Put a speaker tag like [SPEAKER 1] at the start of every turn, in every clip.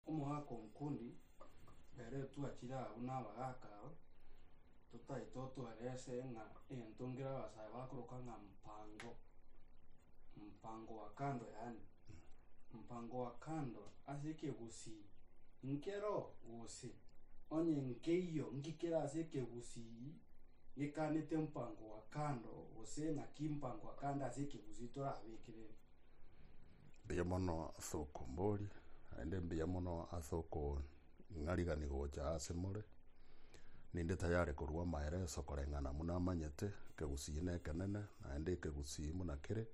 [SPEAKER 1] Omogaka omokundi, Ere twachire abwo nabagaka aba, totaete otware ase ng'a egento nkere abasae bakoroka ng'a mpango, mpango wa kando yaani, mpango wa kando ase ekegusii nkero gose onye nkeiyo nki kere ase ekegusii gekanete mpango wa kando gose naki mpango wa kando ase ekegusii torabekerere.
[SPEAKER 2] Mbuya mono ase okomboria, naende mbuya mono ase okong'arigani gocha ase more. Ninde tayari korwa amaeleso koreng'ana buna amanyete ekegusii na ekenene naende ekegusii buna kere.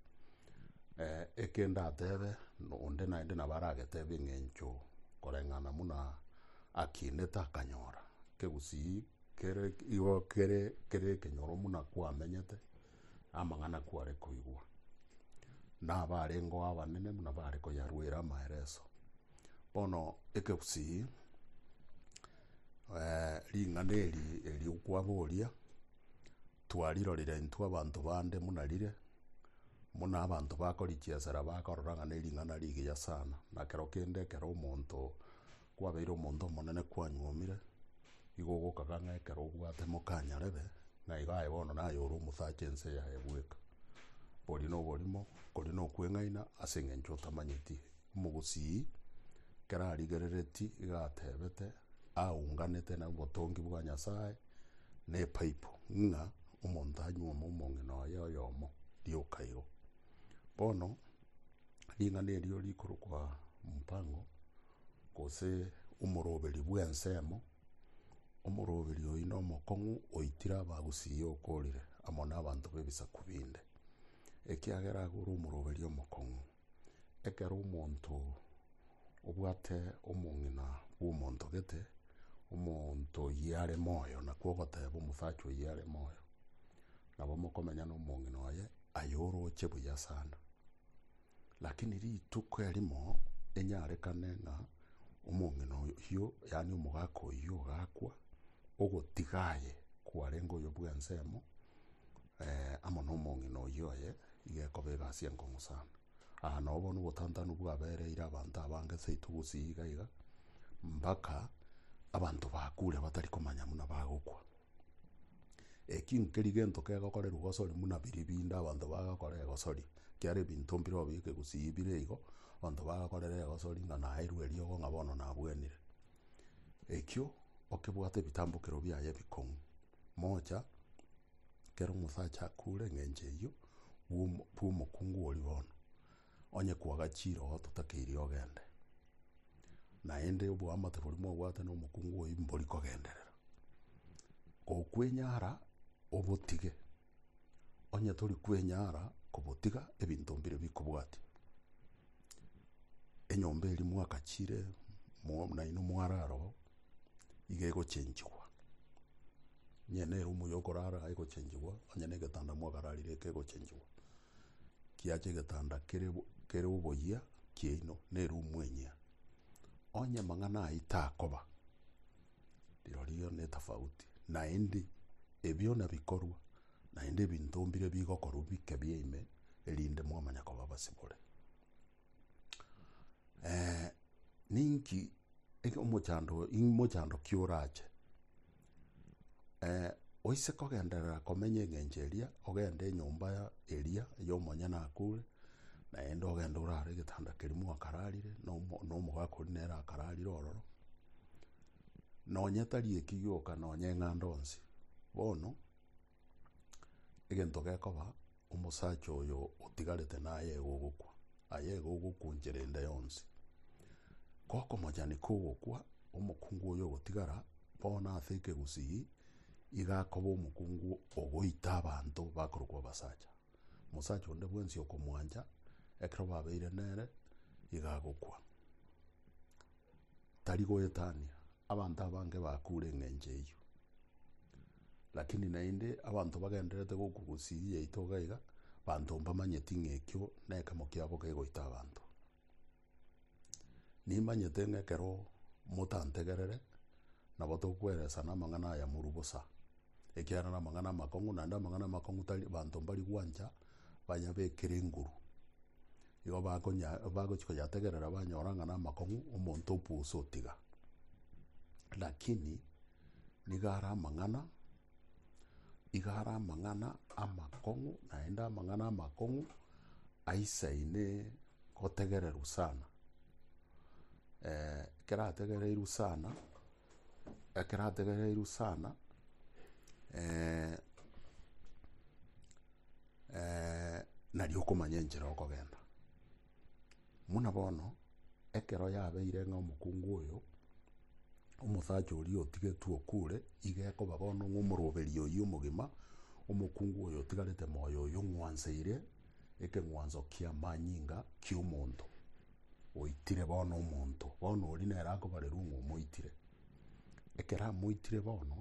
[SPEAKER 2] Eke ndatebe onde naende nabo aragetebe eng'encho koreng'ana buna akinete akanyora. Ekegusii kere igo kere ekenyoro buna kwamenyete. amang'ana kware koigwa, na abarengeo abanene buna bare koyaruera amaereso. Bono ekegusii eh, ring'ana eri eri okwaboria twarirorire intwe abanto bande buna rire, buna abanto bakorichiesera bakorora ng'a nering'ana rigiya sana, na kero kende ekero omonto Kwabeire omonto omonene kwanyuomire, igo ogokaga ng'a ekero obwate mokanyarebe, na igo aye bono naye ore omosacha ense yaye bweka. Oborie noborimo, okoria nokweng'aina, ase engencho otamanyeti. Omogusii, ekero arigerereti, iga atebete, aunganete na obotongi bwa Nyasae, na epaipo, ng'a omonto anyuome omong'ina oye oyomo rioka igo. Bono, ring'ana erio rikorokwa Mpango. Gose omoroberi bw'ensemo, omoroberi oyio nomokong'u oitire abagusii okorire amo nabanto b'ebisaku binde, ekiagera agwo ore omoroberi omokong'u. Ekero omonto obwate omong'ina bw'omonto gete, omonto oyio are moyo, nakwo ogoteba omosacha oyio are moyo, nabo mokomenya nomong'ina oye, aye oroche buya sana. Lakini rituko erimo enyarekane ng'a omong'ina oyio, yaani omogaka oyio ogakwa, ogotiga aye kwarenge oyo bw'ensemo, eh, amo nomong'ina oyio oye, iga ekoba egasi enkong'u sana. Aa nabo bono obotantanu bwabereire abanto abange seito gusii iga iga, mbaka abanto bakure batari komanya buna bagokwa. Eki nkeri gento kegokorerwa gosori buna biri binde abanto bagakora egosori, kiare ebinto mbire obi ekegusii bire igo, abanto bagakorera egosori ng'a naeirwe eriogo ng'a bono nabwenire. Ekio okebwate ebitambokero biaye ebikong'u, mocha ekero omosacha akure eng'encho eyio bwa omo- bwa omokungu oria bono, Onye kwaga chirogo totakeirie ogende, naende oboamate boria mwabwate nomokungu oyio mbori kogenderera. Gokwenyara obotige. Onye tori kwenyara kobotiga ebinto mbire bikobwatia. Enyomba eria mwagachire nainwe mware aroro, iga egochenchigwa. Onye neroom ya okorara egochenchigwa, onye negetanda mwakararire ekegochenchigwa. kiacha egetanda kere bo- kere oboyia kiaino, na erumu enyia. Onye amang'ana aya takoba, rirorio netafauti, naende ebio nabikorwa, naende ebinto mbire bigokorwa bike bia ime, erinde mwamanya koba abasibore. ninki eke omochando imochando ki orache. eh, oise kogenderera komenya eng'encho eria ogende enyomba ya- eria y'omonyene akure naende ogende orare egetanda keria mwakararire na omo- na omogaka oria nere akararire ororo nonye tari eki gioka nonye eng'anda onsi bono Egento gekoba, omosacha oyo otigarete naye iga ogokwa, aye iga ogokwa enchera ende yonsi. Gokomochani kogokwa, omokungu oyo ogotigara, bono ase ekegusii, iga akoba omokungu ogoita abanto bakorokwa abasacha. Omosacha onde bwensi okomwancha, ekero babeire nere, iga agokwa. Tari goetania, abanto abange bakure engencho eyio. Lakini naende abanto bagendererete gokwa gosiri yaito iga iga, banto mbamanyeti ng'a ekio nekemo kiabo kegoita abanto. Nimanyete ng'a ekero motantegerere, nabo tokweresana amang'ana aya morwa bosa, ekiagera namang'ana amakong'u, naende amang'ana amakong'u tari banto mbari gwancha bayabekere enguru. Igo bakonya bagochi koyategerera banyora ng'a namakong'u, omonto opusa otiga. Lakini. Nigo are amang'ana, igo are amang'ana amakong'u, naende amang'ana amakong'u aisaine gotegererwa sana. ekerategereirwe sana, ekerategereirwe sana nari okomanya enchera okogenda. Buna bono, ekero yabeire ng'a omokungu oyo, omosacha oria otigetwe okure, iga ekoba bono ng'a omoroberi oyio omogima, omokungu oyo otigarete moyo oyio ong'wanseire ekeng'wanso ki'amanyinga ki'omonto oitire bono omonto. Bono oria nere akobarerwa ng'a omoitire. Ekero amoitire bono.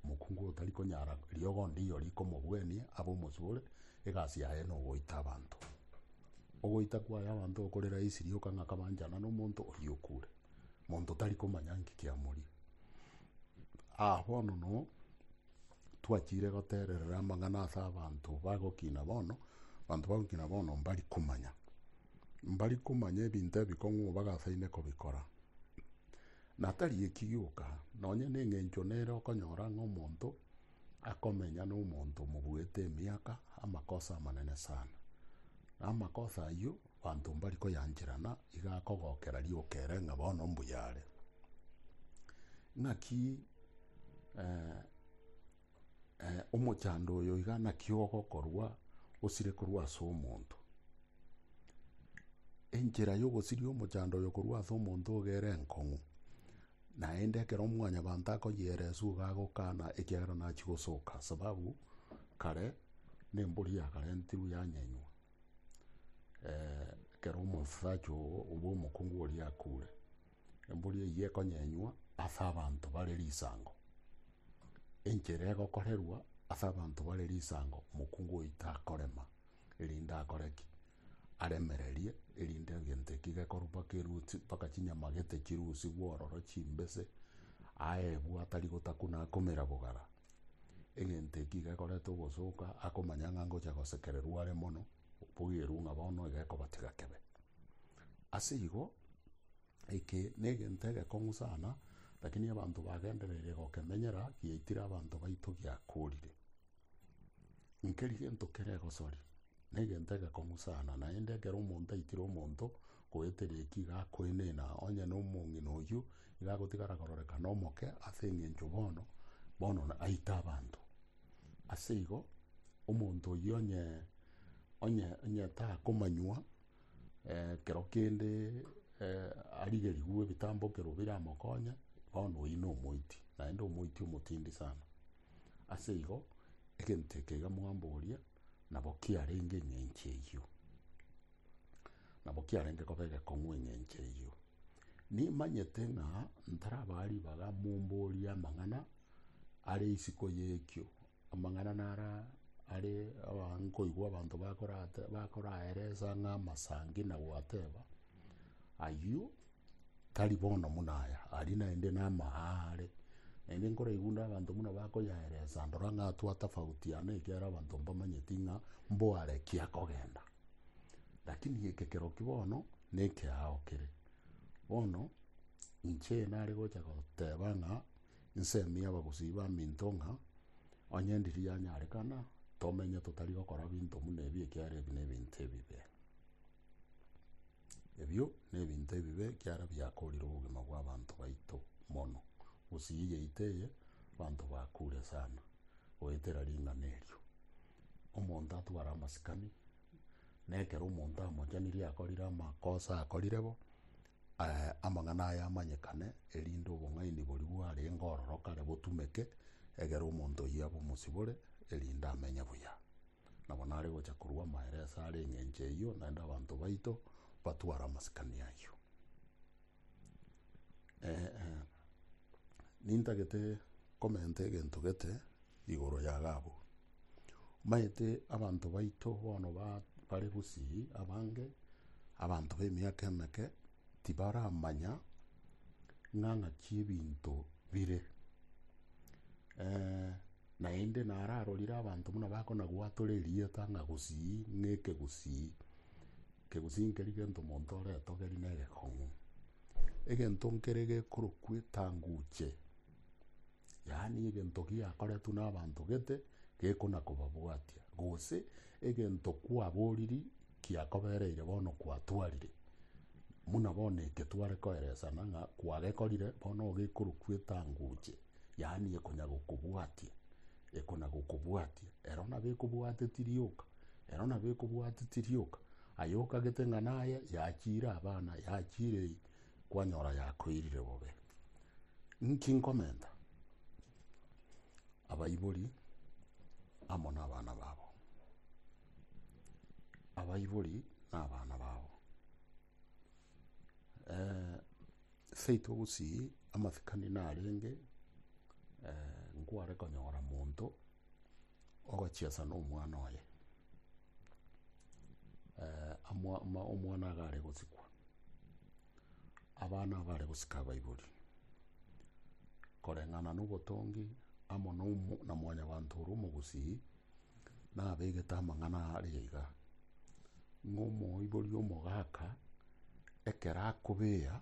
[SPEAKER 2] Omokungu otari konyara riogo ndiyo rikomogwenia abe omosore, egasi yaye nogoita abanto. Ogoita kwaye abanto okore rahisi rioka ng'a kabanchana nomonto oyio okure. Monto tari komanya nki kiamoria. Aa bono no twachire goterera amang'ana ase abanto bagokina bono, abanto bagokina bono mbari komanya. Mbari komanya ebinto ebi kong'u bagasaine kobikora. Na tari eki gioka, nonya nengencho nere okonyora ng'a omonto akomenya nomonto omobuete emiaka, amakosa amanene sana. Na amakosa ayio banto mbari koyancherana, iga akogokera rioka ere ng'a bono mbuya are. Ng'aki eh, Eh, omochando oyo iga naki ogokorwa osire korwa ase omonto. Enchera y'ogosiria omochando oyo korwa ase omonto ogere enkong'u, naende ekero mwanyabanto akoyeresu iga agokana ekiagera nachia gosoka, sababu kare nembori yakarentirwe yanyenywa eh ekero omonsacha ogo obo omokungu oria akure. Embori eyio ekonyenywa ase abanto bare risango, enchera egokorerwa ase abanto bare risango, mokungu oito akorema, erinde akore ki? Aremererie, erinde egento ekio gekorwa mpaka eruti, mpaka chinyama gete chirusigwe ororo chimbese, aebwe atari gotakuna akumera bogara. Egento ekio iga ekoreta ogosoka, akomanya ng'a ngocha gosekererwa are mono. Boigerwe ng'a bono iga ekobatiga kebe. Ase igo, eke negento egekong'u sana, lakini abanto bagendereirie gokemenyera giaitire abanto baito giakorire. Nkeri gento kere egosori, negento egekong'u sana, naende ekero omonto aitire omonto, goetera eki iga akoenena, onye na omong'ina oyio, iga agotigara kororekana omoke, ase eng'encho bono, bono aite abanto. Ase igo, omonto oyio onye, onye, onye takomanywa eh, kero kende eh, arigerigwe ebitambokero biramokonye, bono oyio na omoiti, naende omoiti omotindi sana. Ase igo, egento eke iga mwamboria, Nabo kiarenge eng'encho eyio, nabo kiarenge koba egekong'u eng'encho eyio. Nimanyete ng'a ntarabaa ribaga momborie amang'ana are isiko y'ekio, amang'ana naro are aa nkoigwa abanto bakorate bakoraeresa ng'a amasangi na goateba, ayio. Tari bono buna aya, aria naende naama aare. Naende nkoraigwa onde abanto buna bakoyaeresa, ndora ng'a twatafautiana ekiagera abanto mbamanyeti ng'a mbware ki akogenda. Lakini gekekero ki bono, na ekeao kere. Bono, inche nare gocha goteba ng'a nsemi abagusii baminto ng'a onye ndiri yanyarekana, tomenye totari gokora binto buna ebi ekiagera ebi nebinto ebibe. Ebio nebinto ebibe ekiara biakoorire obogima bw'abanto baito mono. Gose eyio yaito eye abanto bakure sana goetera ring'ana erio. Omonto atware amasikani, na ekero omonto amochanirie akorire amakosa akorire bo, amang'ana aye amanyekane erinde obong'aini boria bwarenge ororo kare botumeke, egere omonto oyio abe omosibore erinde amenye buya. Nabo nare gocha korua amaere ase are engencho eyio, naende abanto baito batware amasikani ayio. Nintagete komenta egento gete igoro ya Gabu. Omanyete abanto baito bono ba- bare gusii abange, abanto ba emiaka emeke, tibaramanya ng'a ng'aki ebinto bire Naende nararorire abanto buna bakonagwatore erieta ng'a gusii ng'eke gusii, ekegusii nkeri gento omonto ore etogeri na egekong'u. Egento nkere gekorokwa etanguche, yaani egento giakoretwe na abanto gete gekona kobabwatia, gose egento kwaboriri Kiakobereire bono kwatwarire, buna bono eke tware koeresana ng'a kwagekorire, bono ogekorokwa etangoche, yaani ekonyagokobwatia, ekonyagokobwatia. Ero nabo ekobwateti rioka, ero nabo ekobwateti rioka. Aye okagete ng'a naye yachiire abana, yachiire eye, kwanyora yakoirire bobe. Inki nkomenta? Abaibori amo nabana babo. abaibori na abana babo. Eh, seito gusii amasikani narenge eh, nkware konyora monto ogochiesa na omwana oye eh, amwa- ma- omwana agare gosikwa abana abare gosika abaibori koreng'ana na obotongi amo na omo- na mwanyabanto ore omogusii Nabegete amang'ana aya aria iga, ng'a omoibori omogaka ekero akobea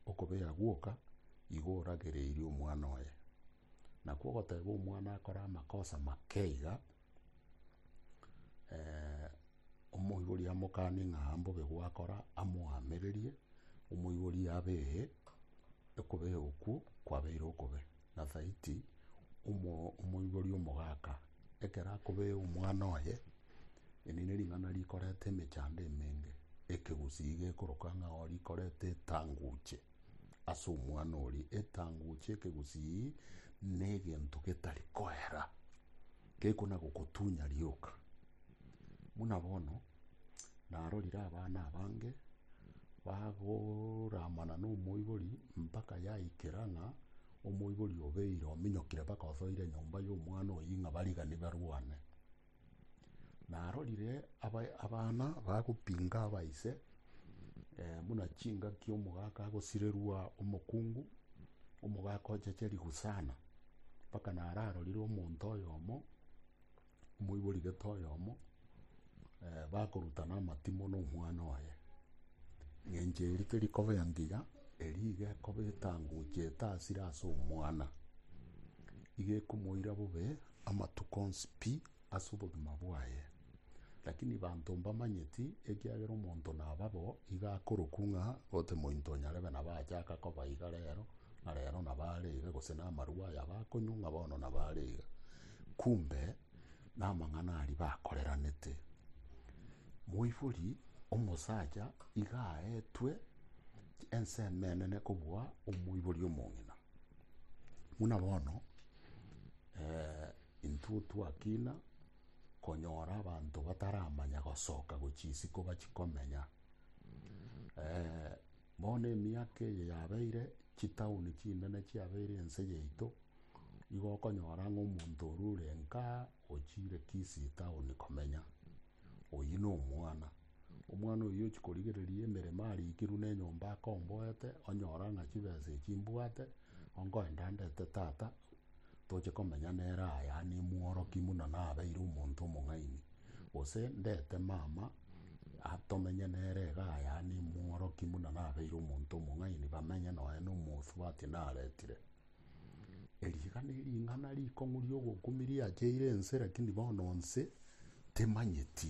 [SPEAKER 2] okobea gwoka, igo oragereirie omwana oye. Nakwo ogoteba omwana akore amakosa make iga, omoibori amokanie ng'a mbobe gwakora, amoamererie, omoibori abee, okobea okwo kwabeire okobe. Na Thaiti, omoibori omogaka, ekero akobee omwana oye, eri nering'ana rikoreta emechando emenge, ekegusii gekoroka ng'a oo rikoreta etanguche ase omwana oria. Etanguche, ekegusii, negento getari koera, gekona gokotunya rioka. Buna bono, narorire abana abange bagoramana nomoibori mpaka yaikera ng'a omoibori obeire ominyokire mpaka osoire enyomba y'omwana oyio ng'a barigani barwane. Narorire aba- abana bagopinga abaise buna chingaki omogaka agosirerwa omokungu, omogaka ochache rigusana, mpaka nararorire omonto oyomo Moibori gete oyomo, eh, bakorutana amatimo na omwana oye. Ng'encho erio teri koba engiga, erio iga ekoba etanguche etasire ase omwana. Iga ekomoira bobe amatuko onsi pi ase obogima bwaye. Lakini banto mbamanyeti, ekiagera omonto naba bo, iga akorokwa ng'a gose mointo onyarebe nabo achaka koba iga rero, ng'a rero nabo are iga, gose namarwa aya bakonywa ng'a bono nabo are iga. Kumbe namang'ana aria bakoreranete. Moibori omosacha iga aetwe ense emenene kobua omoibori omong'ina. Buna bono intwe twakina konyora abanto bataramanya gosoka gochia isiko bachia komenya. Bono emiaka eye yabeire, chitauni chinene chiabeire ense yaito, igo okonyora ng'a omonto oria ore nka ochiire Kisii town komenya, oyio nomwana. Omwana oyio ochi korigereria emeremo arikirwe nenyomba akomboete, onyora ng'a chibesa echi mbwate, onkoenda ndete tata Toche komenya nere aya nimworoki buna nabeire omonto omong'aini, gose ndete mama tomenye nere iga aya nimworoki buna nabeire omonto omong'aini, bamenye nonya na omosubati naretire. Eri iga ne ring'ana rikong'u riogokumia riacheire ense, rakini bono ense temanyeti.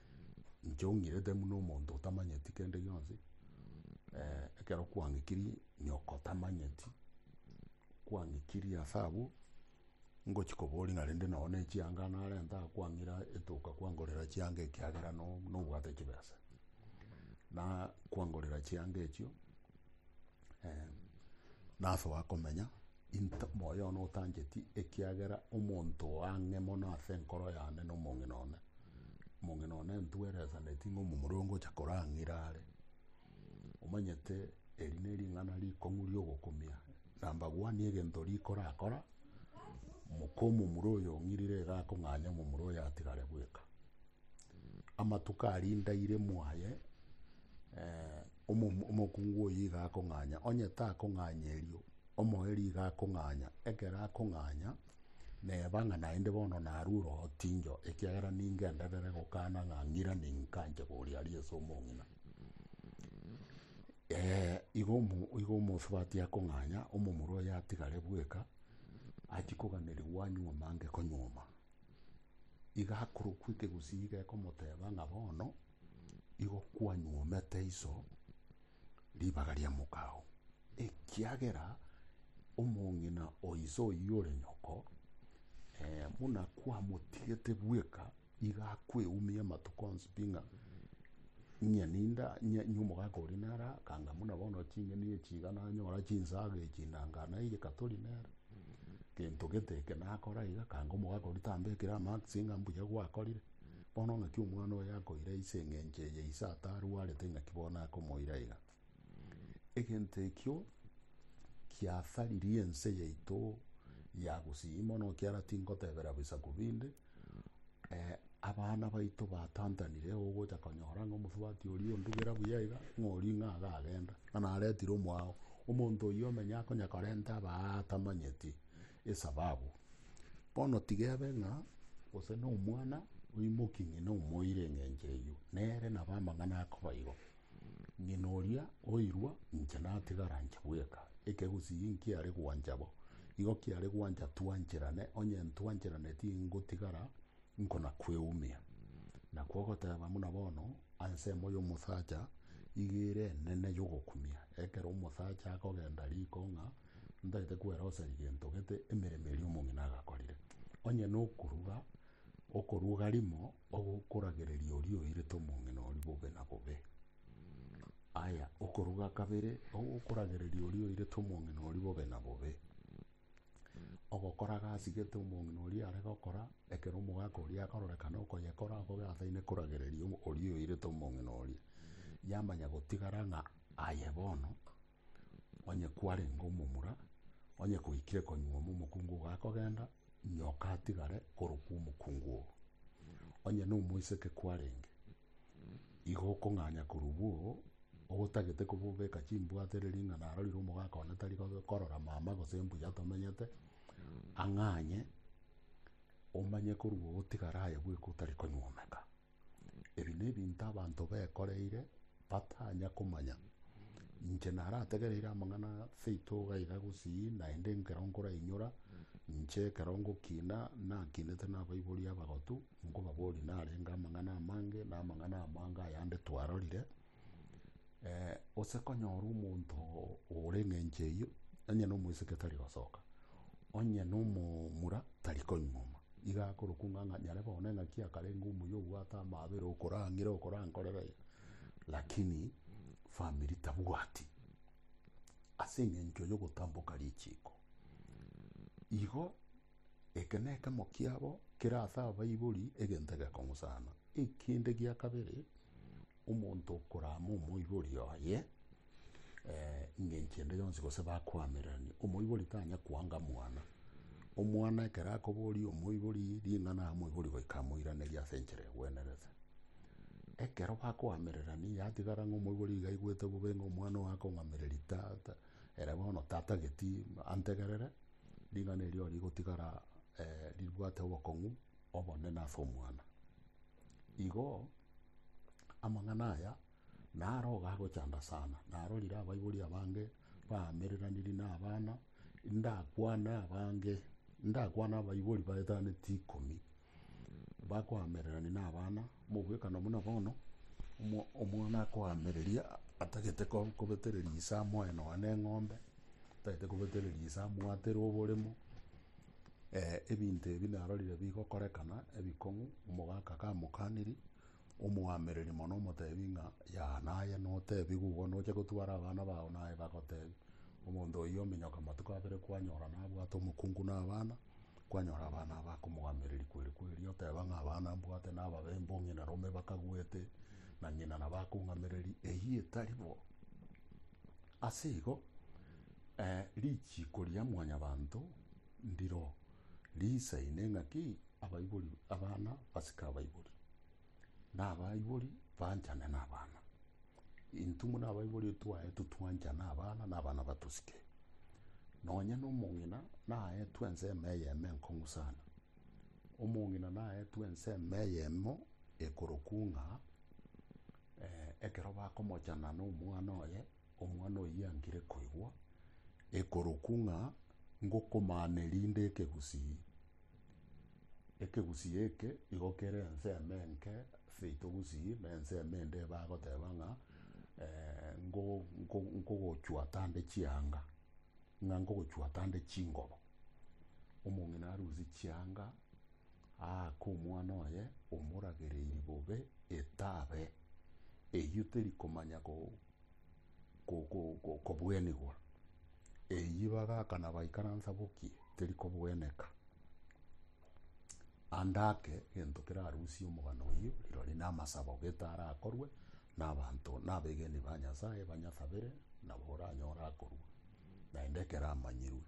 [SPEAKER 2] Inche ong'irete buna omonto otamanyeti kende gionsi, eh, ekero kwang'ikiri nyoko tamanyeti, kwang'ikiri ase abwo, ngochi koboria ng'a rende nonye nechianga narenta aa kwang'ira etoka kwangorera chianga ekiagera no- nobwate chibesa, na kwangorera chianga echio. Eh, nase wakomenya into moyo one otancheti ekiagera omonto oang'e mono ase enkoro yane na omong'ina one omong'ina one ntweresaneti ng'a omomura ongocha korang'ira are omanyete eri ne ring'ana rikong'u riogokumia nambagwani egento rikorakora moka omomura oyo ong'irire iga akong'anya omomura oyo atigare bweka amatuko arindaire mwaye eh, Omo- Omokungu oyio iga akong'anya, onye takong'anya erio, omoerio iga akong'anya, ekero akong'anya, neba ng'a naende bono narue orootinyo, ekiagera ningenderere gokana ng'a ng'irani nkanche koria aria ase omong'ina. Eh, igo omo- igo omosubati akong'anya, omomura oyo atigare bweka, achie koganerigwa anywe mange konyuoma. Iga akorokwa ekegusii iga ekomoteba ng'a bono. Igo kwanyuomete iso ribaga ria mokao, ekiagera omong'ina o iso oyio ore nyoko, eh, buna kwamotigete bweka, iga akweumia amatuko onsi pi ng'a ng'ia ninda ng'ia ng'ia omogaka oria nere akanga buna bono ching'eni echi iga nanyora chinsaga echi nanga naigeka tori nere gento gete eke nakora iga akanga omogaka oria tambekire amaaksi ng'a mbuya gwakorire. Bono ng'aki omwana oyo akoira ise engencho eye ise atarwarete ng'aki bono akomoira iga? Egento ekio kiasaririe ense yaito ya Gusii mono ekiara tingotebera bisaku binde, eh, abana baito batantanire ogocha konyora ng'a omosubati oria ondugera buya iga, ng'a oria ng'a iga agagenda, ng'a naretire omwao. Omonto oyio omenye akonya korenta abaa atamanyeti, Esababu. Bono tigebe ng'a gose nomwana oimokia ng'ina omoire engencho eyio, nere nabo amang'ana akoba igo. Ng'ina oria oirwa inche natigara inche bweka. Ekegusii nkiare gwancha bo. Igo kiare gwancha twancherane, onye ntwancherane tingotigara nkona kweumia. Nakwo ogoteba buna bono ansemo y'omosacha iga ere enene y'ogokumia. Ekero omosacha akogenda riko ng'a Ntagete kweroseria gento gete emeremo eria omong'ina agakorire, onye nokoruga, okoruga rimo ogokoragereria oria oirete omong'ina oria bobe na bobe. Aya, okoruga kabere ogokoragereria oria oirete omong'ina oria bobe na bobe. Ogokora gasi gete omong'ina oria are gokora, ekero omogaka oria akororekana okoyekora akobe ataine koragereria oria oirete omong'ina oria. Yamanya gotigara ng'a aye bono onye kwarenge omomura, onye koikire konyuma momokungu ogo akogenda, nyoka atigare korokwa omokungu ogo. Onye nomoiseke kwarenge, igo okong'anya korokwa oo ogotagete koba obeka chimbwato ere ring'ana arorire omogaka one tari kobe korora mama gose mbuya tomenyete, ang'anye omanye korokwa ogotigara aye bweka otari konyuomeka. Ebi nebinto abanto bekoreire batanya komanya. Inche narategereire amang'ana aya seito iga iga gosii naende ekero nkorainyora inche ekero ngokina nakinete na abaibori abagotu nkobaboria narenge amang'ana amange na amang'ana amange ayande twarorire Eh, gose konyora omonto ore eng'encho eyio onye na omoiseke tari gosoka onye na omomura tari koing'oma iga akorokwa ng'a ng'a nyare bono eng'aki akarenge omuya obwate amaabera okorang'ire okorankorera iga lakini famiri tabwati ase eng'encho ya ogotamboka richiko igo eke na ekemo kiabo kera ase abaibori egento egekong'usana ekende gia kabere. Omonto okorama omoibori oye engencho ende yonsi gose bakoamererania, omoibori tanya koanga mwana. Omwana ekero akoboria omoibori ring'ana aa omoibori goika amoiranerie ase enchera egwenerete. Ekero bakoamererania yatigara ng'a omoibori iga aigwete bobe ng'a omwana oye akong'amereria tata, ere bono tatageti antegerere, ring'ana erio rigotigara ribwate obokong'u obonene ase omwana. Igo amang'ana aya naroga agochanda sana, narorire abaibori abange baamereranirie na abana, ndakwane abange, ndakwane abaibori baetaneti ikomi, bakoamererania na abana, mogwekano buna bono, omo- omwana akoamereria atagete ko- kobetereria ise amoe nonya na eng'ombe, atagete kobetereria ise amwatere oboremo. Ebinto ebi narorire bigokorekana ebikong'u, omogaka kamokaniri, omoamereri mono omotebi ng'a Yaa naye, notebi gugwa noche gotwara abana bao naye bagotebi. Omonto oyio ominyoka matuko abere kwanyora nabwate omokungu na abana, kwanyora abana aba akomoamereri kweri kweri oteba ng'a abana mbwate nababe mbo ng'ina rome bakagwete na ng'ina nabo akong'amereri eyio etari bo. Ase igo richiko ria mwanyabanto. Ndiro riisaine ng'aki abaibori abana basike abaibori, na abaibori banchane nabana. Intwe buna abaibori twaetwe twanchane abana na abana batosike. Nonye na omong'ina naetwe ensemo eyemo enkong'u sana. Omong'ina naetwe ensemo eyemo ekorokwa ng'a ekero bakomochana nomwana oye Omwana oyio angire koigwa ekorokwa ng'a ngokomana erinde ekegusii. Ekegusii eke igo kere ensemo enke ase ito gusii na ensemo ende ebe agoteba ng'a nkogochwata nde chianga, ng'a nkogochwata nde chingobo. Omong'ina arusie chianga aake omwana oye omoragereiri bobe etabe. Eyio teri komanya. kobwenigwa. Eyio bagaka na baikaransa bokie teri kobweneka. Ande ake gento kerarusie omogano oyio erori na amasabo gete arakorwe na abanto na abegeni ba Nyasaye banyasabere nabo oranyore akorwa naende ekero amanyirwe.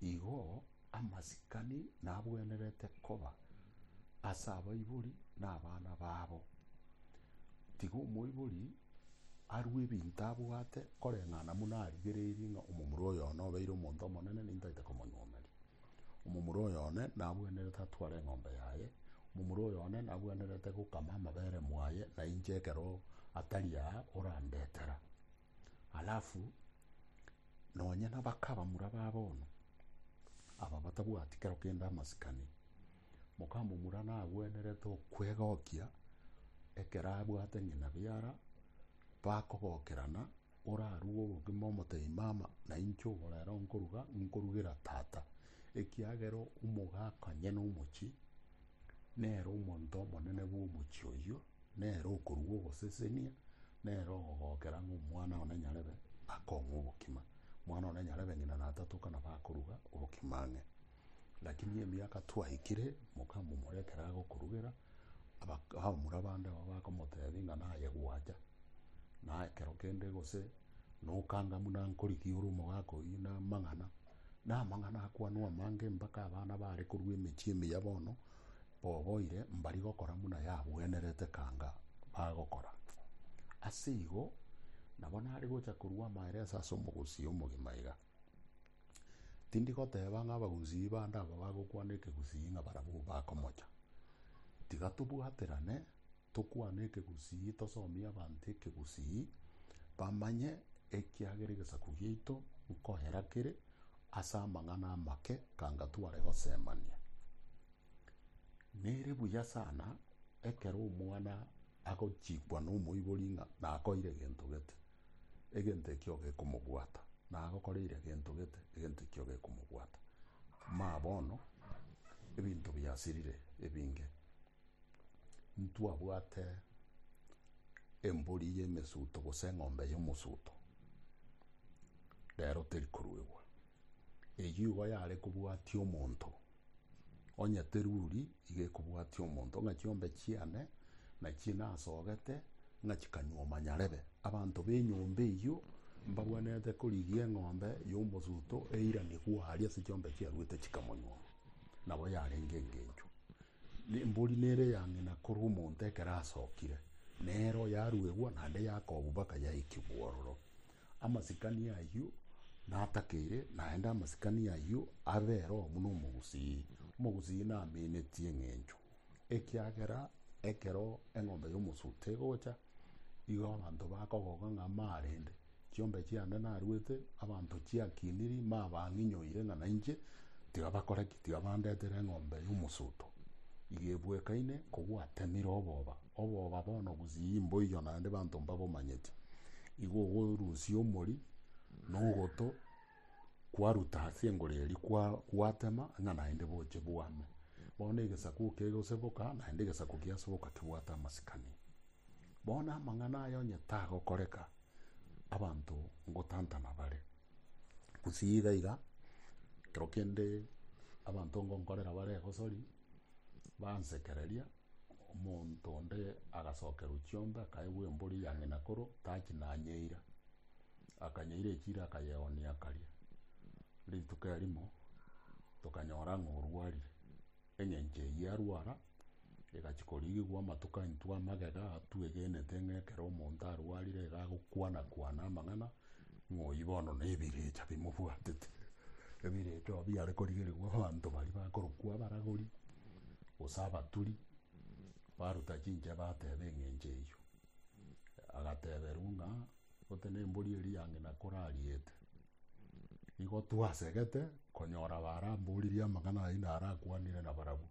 [SPEAKER 2] Igo amasikani nabwenerete koba ase abaibori na abana babo. Tiga omoibori. arue ebinto abwate, koreng'ana buna arigereirie ng'a omomura oyo one obeire omonto omonene, nintaete komonyomeria. Omomura oyo one nabwenerete atware eng'ombe yaye, omomura oyo one nabwenerete gokama amabere mwaye, na inche ekero atari aa orandetera. Alafu nonye nabaka abamura ba bono, aba batabwati kero kende amasikani, Mokamomura nagwenerete okwegokia ekero abwate ng'ina biara, bakogokerana, orarue obogima omotebi mama, na inche oborero nkoruga, nkorugera tata, ekiagera omogaka onye na omochie nere omonto omonene bw'omochie oyio, nere okoruga ogosesenia, nere ogogokera ng'a omwana one nyarebe akong'e obokima. Omwana one nyarebe ng'ina natatoka nabo akoruga obokima ang'e. Lakini emiaka twaikire, mokamomora ekero agokorugera, abak- abamura bande abwo bakomotebia ng'a naye gwacha, na ekero kende gose nokanga buna nkorigia ore omogaka oyio na amang'ana, na amang'ana akwanwa amange mpaka abana bare korwa emechie emiya bono, boboire mbari gokora buna yabwenerete kanga bagokora. Ase igo, nabo nare gocha korua amaeresa ase omogusii omogima iga. Tindi goteba ng'a abagusii bande aba bagokwana ekegusii ng'a barabwo bakomocha. Tiga tobwaterane, tokwane ekegusii, tosomie abanto ekegusii, bamanye ekiagera egesaku giaito nkoera kere ase amang'ana amake kanga tware gosemania. Nere buya sana ekero omwana agochikwa nomoibori ng'a nakoeire gento gete. Egento ekio gekomobwata, na agokoreire gento gete, egento ekio gekomobwata. Maa bono, ebinto biasirire ebinge. Ntwabwate embori y'emesuto gose eng'ombe y'omosuto, rero teri koruegwa. Eyio igo yare kobwatia omonto. Onye teruri iga ekobwatia omonto ng'a chiombe chiane nachio nasogete ng'a chikanywa omonyarebe, abanto b'enyomba eyio mbagwenerete korigia eng'ombe y'omosuto eiranigwe aria ase chiombe chiaruete chikamonywa, nabo yarenge engencho. Na embori nere eya ng'ina korwa omonto ekero asokire, nere oyaruegwa naende yakobu mpaka yaikigwa ororo. Amasikani ayio natakeire, naende amasikani ayio abe ero buna omogusii. Omogusii naminetie eng'encho, ekiagera ekero eng'ombe y'omosuto egocha, igo abanto bakogoka ng'a marende, chiombe chiane naruete, abanto chiakiniri, mabang'inyoire ng'a nainche, tiga bakore ki? Tiga bandetere eng'ombe y'omosuto. Igo ebwekaine kobwatemire oboba. Oboba bono gusii mboiyo naende banto mbabomanyeti, igo ogorusia omori na ogoto kwaruta ase engoro eria gwatema ng'a naende boche bwame. Bono egesaku kegoseboka naende egesaku kiaseboka kebwate amasikani. Bono amang'ana aya onye tagokoreka, abanto ngotantana bare. Gusii iga iga, ekero kende abanto ngonkorera bare egosori, bansekereria. Omonto onde agasokerwa chiombe, akaegwa embori ya ng'ina koro tachi nanyeira. Akanyeira echira akayeonia akaria. Rituko erimo tokanyora ng'a orwarire. Eng'encho eyio arwara, egachia korigigwa amatuko aintwe amagega atwegenete ng'a ekero omonto arwarire iga agokwana kwana amang'ana Ng'oyi bono nebirecha bimobwatete, ebirecha oo biare korigerigwa abanto baria bakorokwa abaragori, gose abaturi, baruta chinchera bateba eng'encho eyio. Agateberwa ng'a gose na embori eria yange nakorariete, nigo twasegete konyora baramboririe amang'ana ayio narakwanire nabarabwo,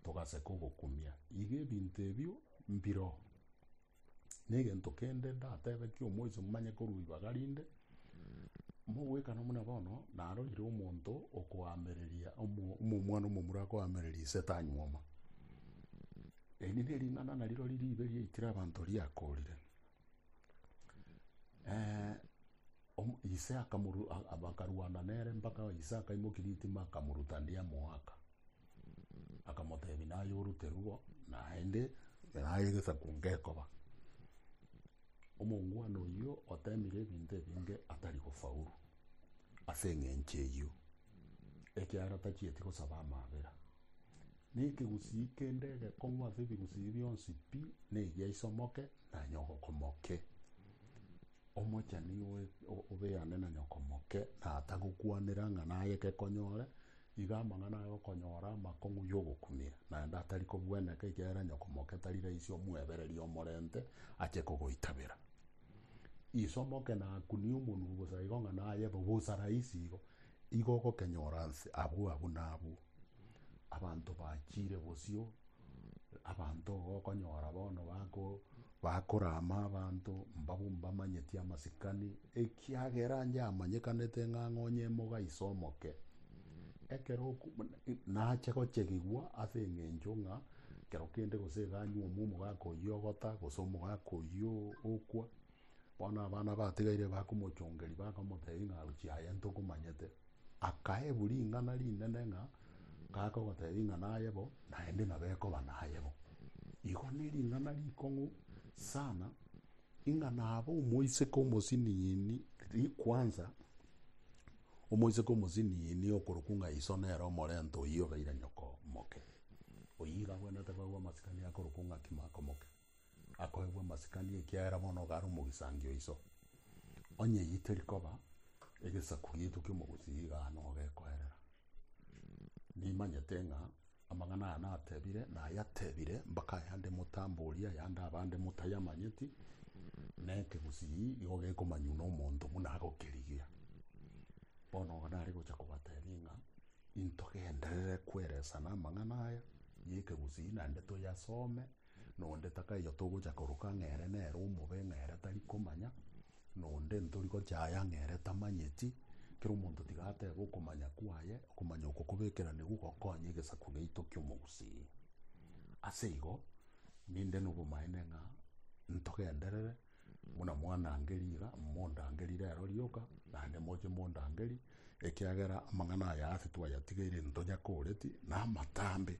[SPEAKER 2] togaseka ogokumia. Iga ebinto ebio mbiroo. Negento kende ndatebe ki'omoiso momanye korwa ibaga rinde, mogoikana buna bono narorire omonto okoamereria omomwana omomura akoamereria ise tanyuoma. Eri nering'ana narirori ribe riaikire abanto riakorire. ise bakarwana nere mpaka ise akaimokia ritima akamoruta ndiamoaka. Akamotebia, Naye oruterwe, naende naye egesaku ngekoba. Omongwana oyio otemire ebinto ebinge atari gofaulu ase eng'encho eyio, ekiagera tachieti gosaba amabera. Na ekegusii kende egekong'u ase ebigusii bionsi pi, negia isomoke, nanye ogokomoke. Omochenu igo obeane na nyoko moke, na atagokwanera ng'a naye gekonyore, iga amang'ana aye okonyora amakong'u y'ogokumia, naende atari kobweneka, ekiagera nyoko moke tari raisi omwebererie omorente ache kogoitabera. Iso omoke nakunie omonwa bosa igo ng'a naye bo bosa raisi igo, igo ogokenyora nse abwo abwo na abwo. Abanto bachire bosio, abanto igo okonyora bono bako Bakoraama abanto mbabo mbamanyeti amasikani, ekiagera inche amanyekanete ng'a ng'onye emoga ise omoke. Ekero oku- nache gochegigwa ase eng'encho ng'a kero kende gose iga anyuomwa omogaka oyio ogota gose omogaka oyio okwa, bono abana batigaire bakomochongeria bakamotebia ng'a aruchi aye ntokomanyete. Akaebwa ring'ana rinene ng'a gaake ogotebia ng'a naye bo, naende nabo ekoba naye bo. Igo nering'ana rikong'u sana, ing'a nabo omoiseke omosinini kwanza, omoiseke omosinini okorokwa ng'a iso nere omorenta oyio obeire nyoko omoke. Oyio iga abwenerete bagwo amasikani akorokwa ng'a Kimako Moke. akoegwa masikani ekiagera bono ogare omogisangio o iso. Onye eyio teri koba, egesaku giaito ki'omogusi iga ano gekoerera. Nimanyete ng'a amang'ana aya natebire, nayatebire mpaka ayande motamboria, ayande abande motayamanyeti, na ekegusi igo gekomanywa nomonto buna agokerigia. Bono igo nare gocha kobatebia ng'a intogenderere kweresana amang'ana aya y'ekegusi naende toyasome, Nonde takaiyo togocha koroka ng'a ere nere omobe, ng'a ere tari komanya, nonde ntori gochaya ng'a ere tamanyeti. Kera omonto tiga atebe okomanya kwaye, okomanya oko kobekera nigo gokonya egesaku giaito ki'omogusii. Ase igo, ninde nobomaene ng'a ntogenderere Buna mwandangeria iga, mondangerie rero rioka, naende moche mondangerie, ekiagera amang'ana aya aase twayatigeire ntonya koreti namatambe,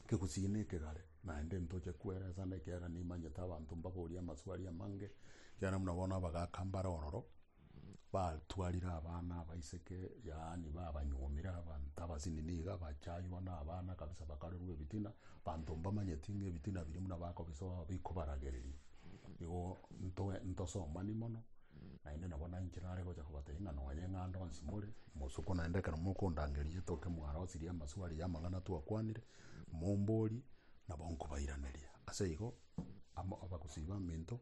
[SPEAKER 2] kegusii na ekegare, naende ntoche kweresana, ekiagera nimanyete abanto mbaborie amaswali amange, ekiagera buna bono abagaka mbare ororo. Batwarire abana abaiseke, yaani babanyuomire abanto abasinini iga, bachaywa na abana kabisa bakarerwa ebitina, abanto mbamanyeti ng'a ebitina biria buna bakobisoa bikobaragereria. Igo ntoe ntosomani mono, naende nabo nainche nare gocha kobatebia ng'a nonye ng'ando onsi more, mosuku naende ekero mokondangeria toke mwarosirie amaswali y'amang'ana twakwanire, momborie, nabo nkobairaneria. Ase igo Amo abagosii baminto,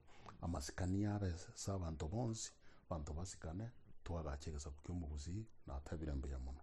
[SPEAKER 2] amasikani y'abe ase abanto bonsi, abanto basikane, twagache egesaku ki'omogusii, natabire mbuya mono.